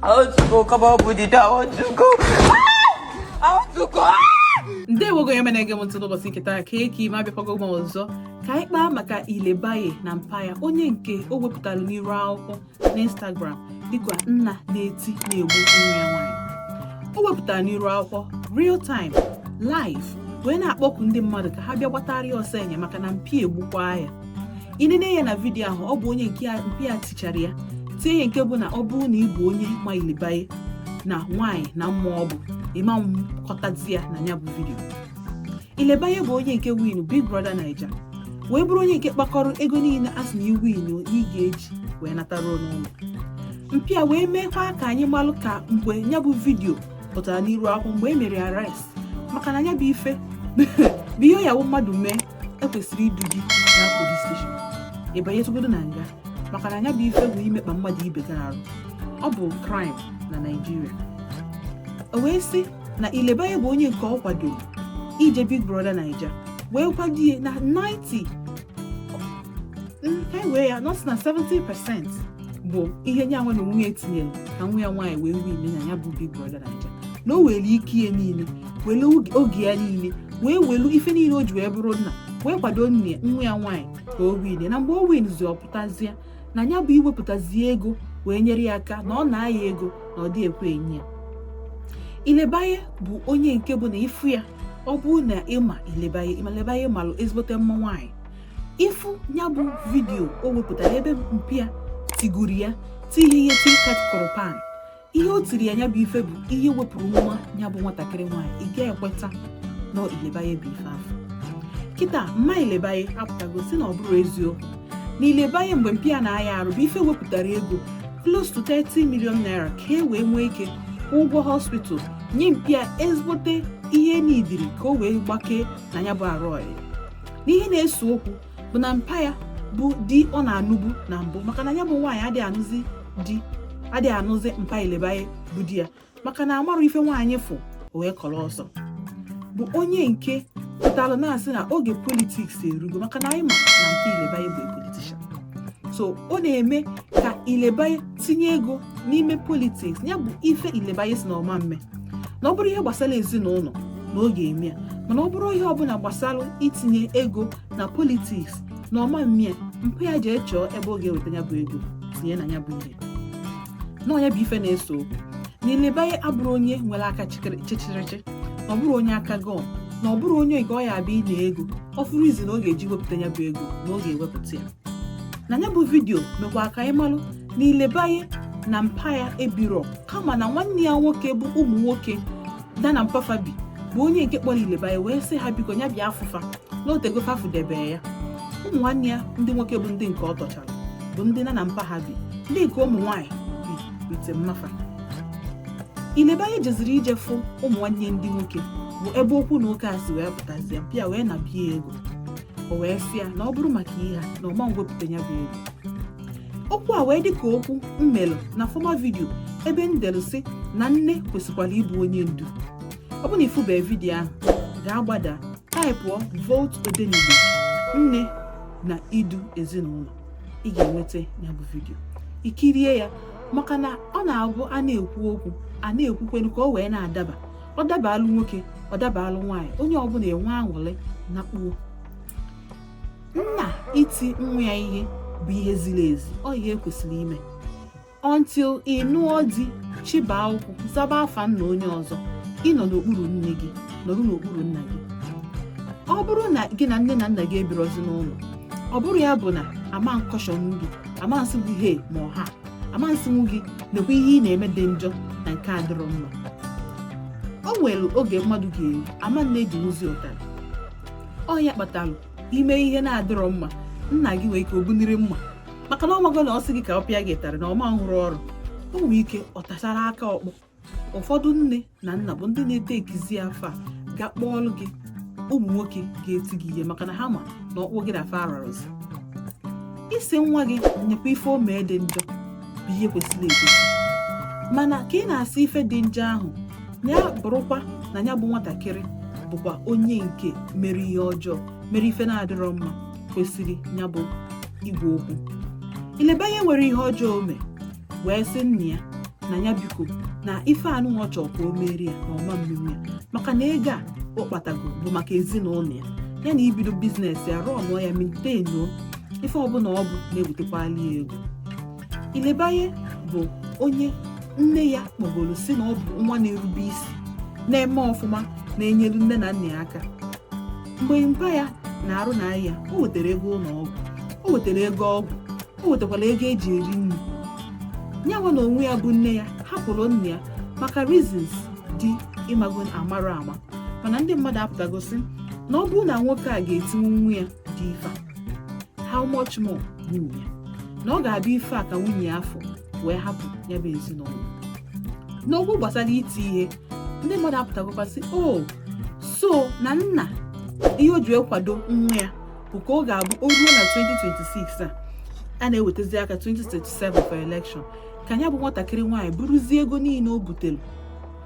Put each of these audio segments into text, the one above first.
Aotuko kama obudida aotuko. Aotuko. ndewo gị onye na-ege m ntị n'ụbọchị nke taa kee ka ị mee abịakwago m ọzọ ka anyị kpaa maka ilebaye na mpa ya onye nke o wepụtara n'iru akwụkwọ n'instagram dịka nna na-eti na-egbu nwa ya nwaanyị o wepụtara n'iru akwụkwọ real time live wee na-akpọku ndị mmadụ ka ha bịa gbatara ya ọsọ enyemaka na mpa ya egbukwaa ya ị nene ya na vidiyo ahụ ọ bụ onye mpa ya tichara ya tie ya nke bụ na ọ bụrụ na ị bụ onye ma ilebaye na nwaanyị na mma ọ bụ ị ma mkọtazi ya na ya bụ vidiyo ilebaye bụ onye nke win big brother naija wee bụrụ onye nke kpakọrọ ego niile a sị na ị win ị ga-eji wee natara n'ụlọ mpa ya wee meekwa ka anyị malụ ka mgbe ya bụ vidiyo pụtara n'iru akwụ mgbe e mere arrest maka na ya bụ ife bụ ihe ya mmadụ mee e kwesịrị idu gị na polis steshọn ị banyetugodu na nga maka na nya bụ ife bụ imekpa mmadụ ibe gị arụ ọ bụ kraịm na naijiria o wee sị na ilebaye bụ onye nke ọ kwadoro ije big brother naija wee kwado ya na 90 ha wee ya na ọ sị na 70 percent bụ ihe nya nwa na onwe ya tinyere na nwa ya nwaanyị wee win nya bụ big brother naija na o were ike ya niile were oge ya niile wee welu ife niile o ji wee bụrụ nna wee kwado nne nwa ya nwaanyị ka o win na mgbe o winzi ọ pụtazie na ya bụ iwepụtazi ego wee nyere ya aka na ọ na-ayọ ya ego na ọ dị ekwe enye ya ilebaye bụ onye nke bụ na ị fụ ya ọ bụrụ na ị ma ilebaye ilebaye malụ ezigbote mma nwaanyị ị fụ ya bụ vidiyo o wepụtara ebe mpa ya tigburu ya tie ihe ihe ti ka e tikọrọ pan ihe o tiri ya ya bụ ife bụ ihe wepụrụ nwa ya bụ nwatakịrị nwaanyị ị ga-ekweta na ilebaye bụ ife a fụ kịta mma ilebaye apụtago sị na ọ bụrọ eziokwu na ilebaye mgbe mpa ya na-aya arụ bụ ife wepụtara ego close to 30 million naira ka e wee nwee ike ụgwọ hospital nye mpa ya ezigbote ihe n'idiri ka o wee gbakee na ya bụ arụ ọya na ihe na-ese okwu bụ na mpa ya bụ di ọ na-anụbu na mbụ maka na ya bụ nwaanyị adịghị anụzi di adịghị anụzi mpa ilebaye bụ di ya maka na a marọ ife nwaanyị fụ wee kọrọ ọsọ bụ onye nke pụtara na-asị na oge politiks erugo maka na anyị ma na mpa ilebaye bụ politishan so ọ na-eme ka ileba tinye ego n'ime politiks ya bụ ife ilebaye sị na ọ ma mme na ọ bụrụ ihe gbasara ezinụlọ na ọ ga-eme ya mana ọ bụrụ ihe ọbụla gbasara itinye ego na politiks na ọ ma mme ya mpa ya jee chọọ ebe ọ ga-eweta ya bụ ego tinye na ya bụ ihe na ọ nya bụ ife na-ese okwu na ilebaye abụrọ onye nwere aka chịchịrịchị na ọ bụrọ onye aka gọm na ọ bụrụ onye nke ọ ya abịa inye ego ọ fụrụ izi na ọ ga-eji wepụta ya bụ ego na ọ ga-ewepụta ya na ya bụ vidiyo mekwa ka anyị malụ na ilebaye na mpa ya ebiro kama na nwanne ya nwoke bụ ụmụ nwoke fa na mpa fa bi bụ onye nke kpọrọ ilebaye wee sị ya biko ya bịa fụ fa na o tego fa fudebe ya ụmụ nwanne ya ndị nwoke bụ ndị nke ọ tọchara bụ ndị ha na mpa ha bi ndị nke ụmụ nwaanyị biri be mma fa ilebaye jeziri ije fụ ụmụ nwanne ndị nwoke bụ ebe okwu na ụka a si wee pụtazie pịa wee na bie ego o wee sị ya na ọ bụrụ maka ihe a na ọ ma nwepụta ya bụ ego okwu a wee dị ka okwu m melụ na former vidio ebe m delụ sị na nne kwesịkwara ịbụ onye ndu ọ bụ na ị fụberọ vidio ahụ gaa gbada taịpụọ volt odenigbo nne na idu ezinụlọ ị ga-enweta ya bụ vidio i kirie ya maka na ọ na-abụ a na-ekwu okwu a na-ekwukwenu ka o wee na-adaba ọ dabaalụ nwoke ọ dabaalụ nwaanyị onye ọbụla enwe aṅụrị na kpuo nna iti nwa ya ihe bụ ihe ziri ezi ọ ihe e kwesịrị ime until ị nụọ di jee gbaa akwụkwọ zaba afa nna onye ọzọ ị nọ n'okpuru nne gị nọrọ n'okpuru nna gị ọ bụrụ na gị na nne na nna gị ebirozi n'ụlọ ọ bụrọ ya bụ na a ma ncaution gị a ma nsị gị he ma ọha a ma nsị gị nekwa ihe ị na-eme dị njọ na nke a dịrọ mma o nwere oge mmadụ ga-eru a ma na-ejinwuzi ụtarị ọ ya kpatalụ i mee ihe na-adịrọ mma nna gị nwee ike o buniri mma maka na ọ mago na ọ sị gị ka ọ pịa gị ụtarị na ọ ma nrụ ọrụ o nwere ike ọ tachara aka ọkpọ ụfọdụ nne na nna bụ ndị na-ete ekizi fa ga-akpọọlụ gị ụmụ nwoke ga-eti gị ihe maka na ha ma na ọkpụ gị na fa ararọzi ịsị nwa gị nekwa ife o mee dị njọ bụ ihe kwesịrị ekwesị mana ka ị na-asị ife dị njọ ahụ ya bụrụkwa na ya bụ nwatakịrị bụkwa onye nke mere ihe ọjọọ mere ife na-adịrọ mma kwesịrị ya bụ ịgwa okwu ilebaye nwere ihe ọjọọ o mee wee sị nna ya na ya biko na ife anụwa ọ chọọ ka o meere ya na ọ ma mmeere ya maka na ego a ọ kpatago bụ maka ezinụlọ ya ya na ibido biznes ya rụọ ụnọ ya maintainuo ife ọbụla ọ bụ na-ewetekwali ya ego ilebaye bụ onye nne ya kpọgoro sị na ọ bụ nwa na-erube isi na-eme ọfụma na-enyelu nne na nna ya aka mgbe mpa ya na arụ na-arịa o wetara ego ụlọ ọgwụ o wetara ego ọgwụ o wetakwara ego eji eri nri nya nwa na onwe ya bụ nne ya hapụrụ nna ya maka reasons ndị mmadụ amarọ ama mana ndị mmadụ apụtago sị na ọ bụrụ na nwoke a ga-etinwu nwa ya ụdị ife a how much more nwunye ya na ọ ga-abụ ife a ka nwunye ya fụ wee hapụ ya bụ ezinụlọ n'okwu gbasara iti ihe ndị mmadụ apụtagokwa sị o so na nna ihe o ji ekwado nwa ya bụ ka ọ ga-abụ o ruo na 2026 a a na-ewetazi aka 2027 for election ka ya bụ nwatakịrị nwaanyị buruzie ego niile o butere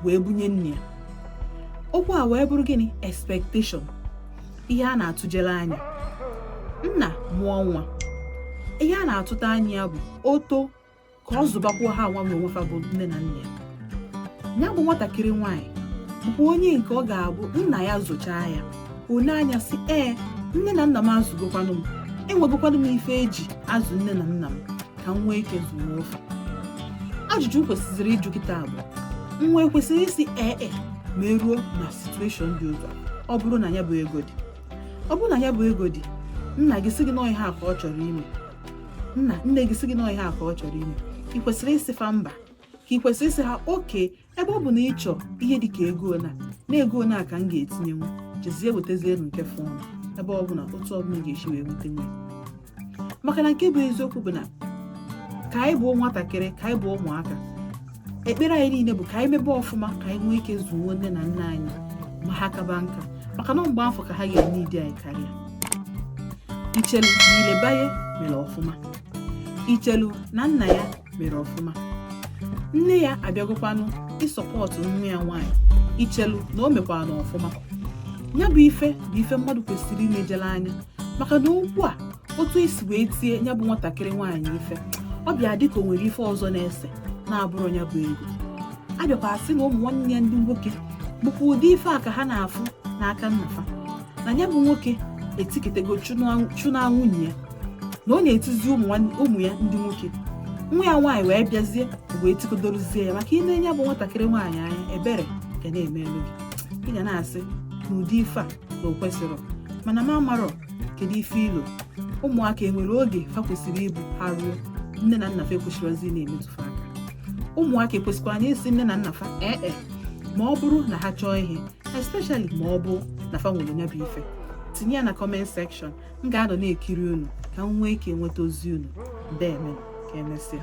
wee bunye nna ya okwu a wee bụrụ gịnị expectation ihe a na-atụjere anya nna mụọ nwa ihe a na-atụta anya bụ oto ka ọ zụbakwuo ha nwanwe onwefa bụ nne na nna ya bụ nwatakịrị nwaanyị bụ onye nke ọ ga-abụ nna ya zụchaa ya o nee anya sị ee nne na nna m azụgokwanụ m enwegokwanụ m ife eji azụ nne na nna m ka m nwee ike zụọ ofu ajụjụ m kwesịrị ịjụ kịta bụ nwa ekwesịrị ịsị ee e ma e ruo na situation dị otu a ọ bụrụ na ya bụ ego dị ọ bụrụ na ya bụ ego dị nna gị sị gị na ọ ihe a ka ọ chọrọ ime nna nne gị sị gị na ọ ihe a ka ọ chọrọ ime ị kwesịrị ịsị fa mba ka ị kwesịrị ịsị ha okay ebe ọ bụ na ị chọọ ihe dị ka ego na na ego na ka m ga-etinyenwu jezie wetazielu nke fọnụ ebe ọ bụla otu ọbụla ga-esi wee nweta nwe maka na nke bụ eziokwu bụ na ka anyị bụ nwatakịrị ka anyị bụ ụmụaka ekpere anyị niile bụ ka anyị mebe ọfụma ka anyị nwee ike zụọ nne na nna anyị ma ha kaba nka maka na mgbe afụ ka ha ga-need anyị karịa i chelu na Ilebaye mere ọfụma i chelu na nna ya mere ọfụma nne ya abịagokwanụ ị-support nwa ya nwaanyị i chelu na o mekwaranụ ọfụma ya bụ ife bụ ife mmadụ kwesịrị inejere anya maka na okwu a otu e si wee tie ya bụ nwatakịrị nwaanyị ife ọ bịa dịka o nwere ife ọzọ na-ese na-abụrọ ya bụ ego a bịakwa asị na ụmụ nwanne ya ndị nwoke bụkwa ụdị ife a ka ha na-afụ n'aka nna fa na ya bụ nwoke etikatago chụnaa nwunye ya na ọ na-etizi ụmụ ya ndị nwoke nwa ya nwaanyị wee bịazie wee tikodoruzie ya maka i lee ya bụ nwatakịrị nwaanyị anya ebere ga na-emelu gị ị ga na-asị na ụdị ife a na o kwesịrọ mana m amarọ kedu ife i lo ụmụaka enwere oge fa kwesịrị ịbụ ha ruo nne na nna fa ekwesịrọzi na-emetụ fa aka ụmụaka ekwesịkwara na-asị nne na nna fa ee e ma ọ bụrụ na ha chọọ ihe especially ma ọ bụ na fa nwere nya bụ ife tinye ya na comment section m ga-anọ na-ekiri unu ka m nwee ike nweta ozi unu deeme ka emesịa